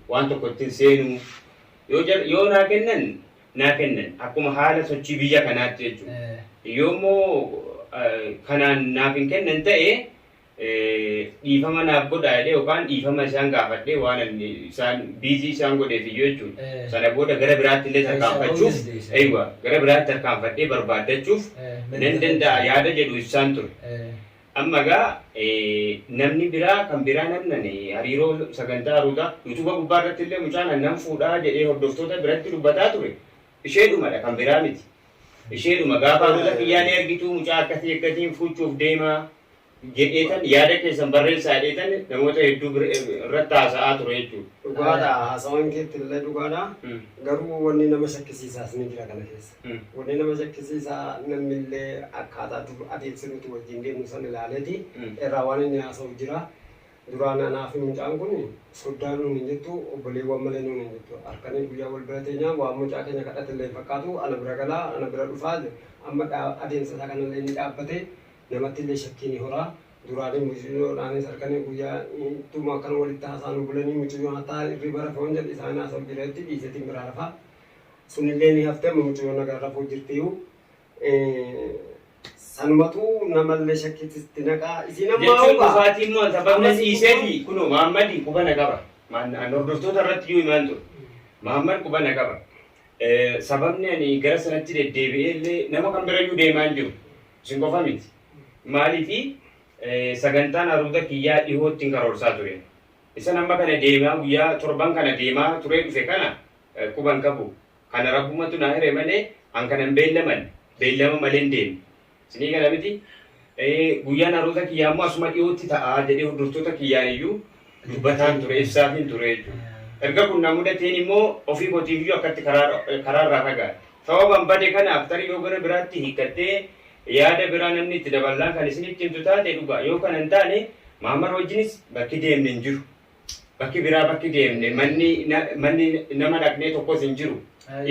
waan tokko ittin seenuu yoo jedh yoo naa kennan naa kennan akkuma haala sochii biyya kanaatti jechuu Eh. yoo immoo eh, kanaan naaf hin kennan ta'e eh, dhiifama naaf godhaa jedhee yookaan dhiifama isaan gaafadhee waan ani isaan biizii isaan godheef iyyuu jechuudha. Eh. Sana booda gara biraatti illee tarkaanfachuuf Isa oolchis deebisa. eeywa gara biraatti tarkaanfadhee barbaaddachuuf Eh, nan danda'a yaada jedhu ibsaan ture. Eh. Amma egaa namni biraa kan biraa namnan hariiroo sagantaa Ruutaa YouTube gubbaa irratti illee mucaan an nan fuudhaa jedhee hordoftoota biratti dubbataa ture isheedhuma dha kan biraa miti. Isheedhuma gaafa Ruuta kiyyaa ni argituu mucaa akkasii akkasiin fuuchuuf deemaa jedheetan yaada keessan barreessaa jedheetan namoota hedduu bir- irratti haasa'aa ture jechuudha. Dhugaadha haasawaan keetti illee dhugaadha. Mm. Garuu wanni nama shakkisiisaas ni jira kana keessa. Wanni nama shakkisiisaa namni illee akkaataa dur adeemsa nuti wajjin deemnu san ilaaleeti irraa waan inni haasa'u jira. Duraan anaa fi mucaan kun soddaa nuun hin jettu obboleewwan malee nuun hin jettu. Harkanii guyyaa wal bira teenyaa waan mucaa keenya kadhate illee hin fakkaatu ana bira galaa ana bira dhufaa amma adeemsa isaa kanallee ni dhaabbate namatti illee shakkii ni horaa. Duraan mucayyoodhaanis harkanii guyyaa tuma akkana walitti haasaanu bulanii mucayyoon hataa irriba rafe waan jedhu isaan haasa'u jira jetti dhiiseetiin biraa rafaa. Sunillee ni hafte amma mucayyoo nagaan rafuu jirtiyuu sanumatuu namallee shakkiitti sitti naqaa isiin ammaa Jechuun hubaa dhufaatii immoo sababni Ammas dhiisee immoo- fi kunoo Maammadi quba na qaba. Maan- an Hordoftoota irratti iyyuu himaan ture. Maammad quba na qaba. Eh, Sababni ani gara sanatti deddeebi'ee illee nama kan bira iyyuu deemaa hin jiru. Isin qofa miti. Maaliifi eh, sagantaan haruuta kiyyaa dhihootti hin karoorsaa ture. Isan amma kana deemaa guyyaa torban kana deemaa turee dhufe kana quba hin qabu. Kana Rabbumatu na hire malee an kana hin beellamanne. Beellama malee hin deemne. Isinii gala miti? Ee, guyyaan haaromsa kiyyaa immoo asuma dhiyootti ta'a jedhee hordoftoota kiyyaan iyyuu dubbataan ture, ibsaafiin ture jechuudha. Erga kun na mudateen immoo ofii kootiif iyyuu akkatti karaa karaa irraa fagaadhe. Sababan bade kanaaf tarii yoo gara biraatti hiikkattee yaada biraa namni itti daballaan kan isinitti himtu taate dhugaa. Yoo kana hin taane Mahammad wajjinis bakki deemne hin jiru. bakki biraa bakki deemne manni na- manni nama dhaqnee tokkos hin jiru.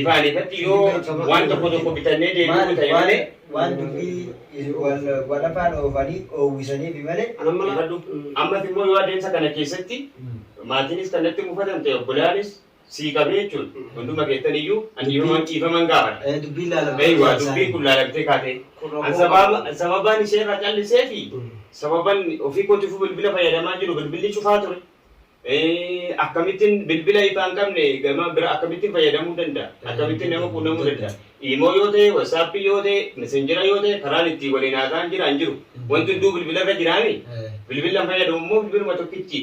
Ifaan ifatti yoo waan tokko tokko bitannee deebi'uu ta'e malee waan dubbii wal wal afaan oofanii oowwisaniif malee Amma Ifadhu. Ammas immoo yoo adeemsa kana keessatti maatiinis kan natti mufatan ta'e obbolaanis sii qabe jechuun hunduma keessan iyyuu an dhiifaman dhiifaman gaafadha. Eh, Dubbiin laalamtee Eeyyuu waan dubbiin isaanii. kun laalamtee kaatee Kun an rakkoo sababa qabu. sababaan ishee irraa callisee fi Mm. sababan ofii kootiifuu bilbila fayyadamaa jiru bilbilli cufaa ture. Eh, Akkamittiin bilbila ifaa hin qabne gama bira akkamittiin fayyadamuu danda'a? Akkamittiin nama quunnamuu danda'a? Imoo yoo ta'e, wasaappii yoo ta'e, messenjera yoo ta'e karaan ittiin waliin haasa'an jira hin jiru. Wanti hunduu bilbila irra jiraami. Eh. Bilbila hin fayyadamu immoo bilbiluma tokkichi.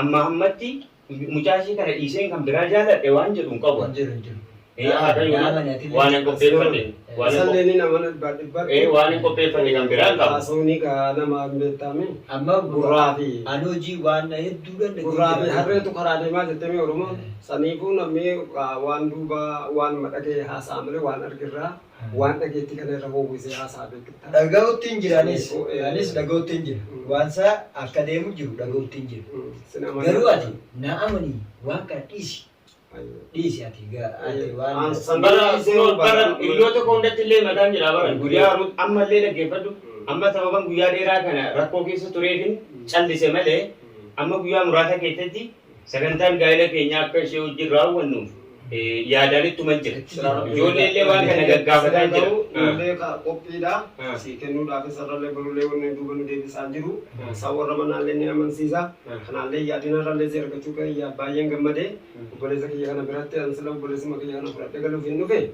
Ammaa ammatti mucaa ishee kana dhiiseen kan biraa jaaladhe waan jedhu hin qabu. Hin jiru hin jiru. Ee, haadha yoo Nama nati waan hin qopheeffate. Waan hin Sallee qophe- ni nama dhibbaa dhibbaa. Ee, waan hin qopheeffate kan biraa hin qabu. Haasawni gaa nama hin beektaame. Amma Gurraa fi ani hojii waan na hedduu dhan gurraa fi harreetu karaa deemaa jettanii Oromoon. Saniifuu namni waa- waan duubaa waan madhagee haasa'a malee waan argirraa. Waan dhageetti kana irra howwisee haasa'a beekta. Dhaga'uttiin jira anis. Anis dhaga'uttiin jira. Waan isaa akka deemu jiru dhaga'uttiin jira. Sin amana. Garuu ati na amani waan kana dhiisi. Dhiisi ati ati waan. Bara kunoo bara hiriyoota koo hundatti illee mataan jira bara guyyaa Ruut amma illee dhaggeeffadhu. Amma sababan guyyaa dheeraa kana rakkoo keessa tureefin callise malee amma guyyaa muraasa keessatti Sagantaan gaa'ela keenyaa akka ishee wajjin raawwannuuf yaadaan ittuman jira. Ijoollee illee waan kana gaggaafataa jira. Ijoollee qophiidha. Sii kennuudhaaf isarrallee barullee wanni duuba nu deebisaan jiru. Isaa warra manaallee ni amansiisa. Kanaallee yaadinarrallee si argachuu kiyya baay'een gammade. Obboleessa kiyya kana biratti ansila obboleessuma kiyya kana fudhadhee galuuf hin dhufe.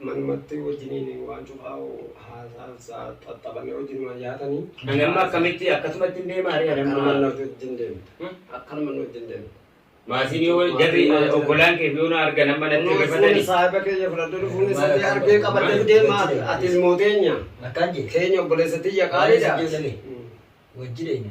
Manumatti wajjiniin waan cufaa'u haasa'ansa xaxxabanii wajjinumaan nyaatanii. Ani amma akkamitti akkasumatti hin deemaa ree ani Akkanuma amma. nuti wajjin deemta. Akkanuma nuti wajjin deemta. Maatiin yoo jarri obbolaan kee yoo na argan amma natti Fuuni rifatanii. saahiba keenya fudhadhee fuuni sadii argee qabadhee deemaa ati ilmoo teenya. Akkaan jee. Keenya obboleessa tiyya qaaliidha. Wajjin deenya.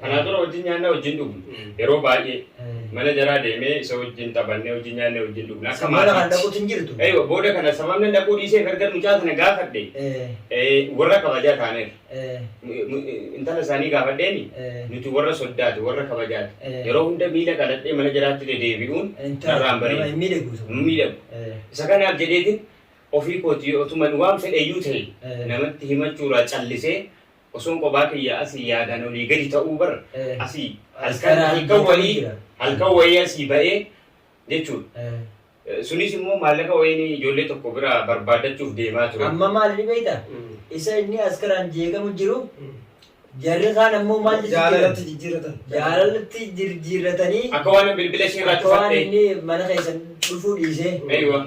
Kanaan dura wajjin nyaannaa wajjin dhugnu. Yeroo baay'ee mana jaraa deemee isa wajjin taphannee wajjin nyaannee wajjin dhugna. Akka Sababa kan maatiitti. dhaquutu hin jirtu. Eeywa, booda kana sababni dhaquu dhiisee gargar mucaa sana gaafadhe Eh, eh, warra kabajaa taaneef eh, mu- mu- intala isaanii gaafadheeni eh. nuti warra soddaati warra kabajaati Eh. yeroo hunda miila qaladhee mana jiraatti dedeebi'uun Intala narraan nama bareedu hin miidhagu. sun. Hin miidhagu. Eh, isa kanaaf jedheetiin ofii kooti otuman waan fedheyyuu ta'e eh. namatti himachuurraa callisee Osoon qophaa kiyya asii yaadaan olii gadi ta'uu bar Eh. asii As halkan kanaan halkan beekamee wayii jira. halkan wayii asii ba'ee jechuudha. Eh. Eh, Sunis immoo maallaqa wayiin ijoollee tokko bira barbaaddachuuf deemaa ture. Amma maal ni beekta? Mm. Isa inni as kanaan jeeqamu jiru Mm. jarri kaan ammoo maal jechuu Jaalalatti jiran? jijjiiratan. Jaalalatti jirjiirratanii Akka waan bilbila ishee irraa akka waan cufattee. inni mana keessan dhufuu dhiisee Eeywa.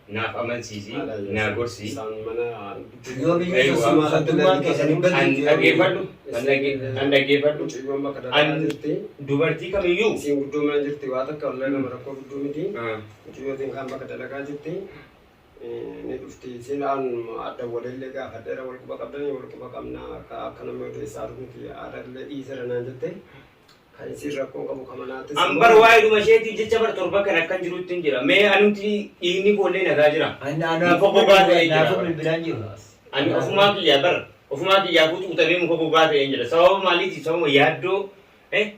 naaf amansiisi, naa gorsi. Yoomiyyuu tasuma addummaan keessan hin An badne dhaggeeffadhu, an dhagge- an dhaggeeffadhu. An dubartii kamiyyuu Siin guddoo mana jirti waa takka wallee nama rakkoo guddoo miti. Ah, Mucayyootiin kan bakka dalagaa jirti. Ni dhufti siin aan adda walillee gaafa dheera wal quba qabdanii wal quba qabnaa akka akka namni odeessaa dhufu miti aadaa illee dhiisera naan jette. Kan isiin rakkoon qabu ka manaatis An immoo- bar waa'ee dhuma isheetii jecha bar torba kan akkan jirutti hin jira. Mee anumti dhiigni koollee nagaa jira. Muka gogaa ta'ee jira. Naafuu bilbilaan jiru. Ani ofumaa kiyyaa bar ofumaa kiyyaa kutu utamee muka gogaa ta'ee hin jira. Sababa maaliiti? Sababa yaaddoo eh,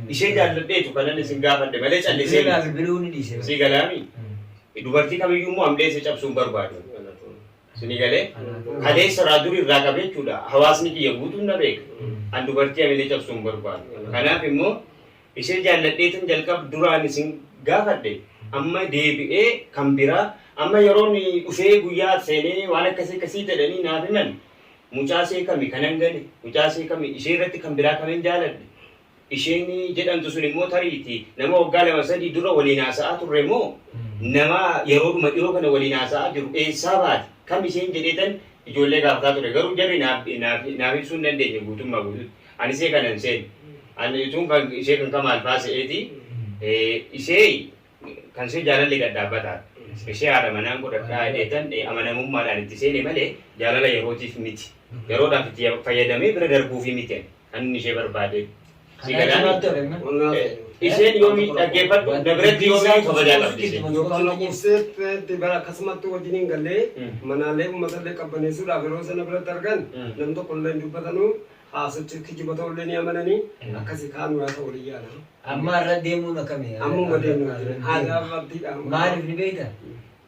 ishee jaalladheetu kanan isin gaafadhe malee callisee Bilbilaan bilbiluu ni dhiise. si galaami. Dubartii kamiyyuu immoo amdeessa cabsuun barbaadu. Suni galee kaleessa irraa duri irraa qabee jechuudha hawaasni kiyya guutuun na beeka. An dubartii hamilee cabsuu hin barbaadu. Kanaaf immoo ishee jaalladheetan jalqaba duraan isin gaafadhe amma deebi'ee kan biraa amma yeroon dhufee guyyaa seenee waan akkasii akkasii jedhanii naaf himan mucaa ishee kami kanan gale mucaa ishee kami ishee irratti kan biraa kanan jaaladhe Isheen jedhamtu sun immoo tariiti nama waggaa lama sadii dura waliin haasa'aa turre moo nama yeroodhuma dhiyoo kana waliin haasa'aa jiru eessaa baate kam isheen jedheetan ijoollee gaafataa ture garuu jarri naaf naaf naaf ibsuu hin dandeenye guutummaa guututti ani ishee kana hin seenu ani utuun kan ishee kan kamaal faa se'eeti eh, ishee kan ishee jaalalli gad dhaabbataa ishee haadha manaan godhadhaa jedheetan eh, amanamummaadhaan itti seene malee jaalala yerootiif miti yeroodhaaf itti fayyadamee bira darbuufi miti ani. Kan ishee barbaade. Si galaani? Isheen yoomi dhaggeeffadhu na biratti yoomi kabajaa qabdi isheen. Yookaan obseetti bara akkasumatti wajjin hin galle manaalee uummatallee qabbaneessuudhaaf yeroo sana biratti argan nam tokkollee hin dubbatanuu haasochi kijiba ta'ullee ni amananii akkasii kaanu yaa ta'u waliin yaala. Amma irra deemuun akkamii? Ammuma deemnu aadaa abdiidha. Maaliif ni beekta?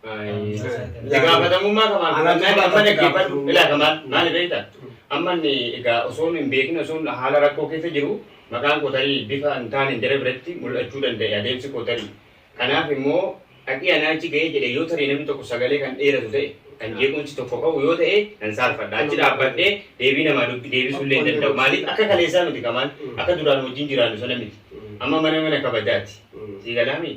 Itti gaafatamummaa qabaan fudhannaan amma dhaggeeffadhu ilaa kamaan maali beekta amma inni egaa osoo hin beekin osoo haala rakkoo keessa jiru maqaan koo tarii bifa hin taaneen jara biratti mul'achuu danda'e adeemsi koo tarii kanaaf immoo dhaqii anaa achi ga'ee jedhe yoo tarii namni tokko sagalee kan dheeratu ta'e kan jeequmsi tokko ka'u yoo ta'e nan saalfadha achi dhaabbadhee deebii namaa dubbi deebisuullee hin danda'u maaliif akka kaleessaa miti kamaan akka duraan wajjin jiraannu sana miti amma mana mana kabajaati sii galaamii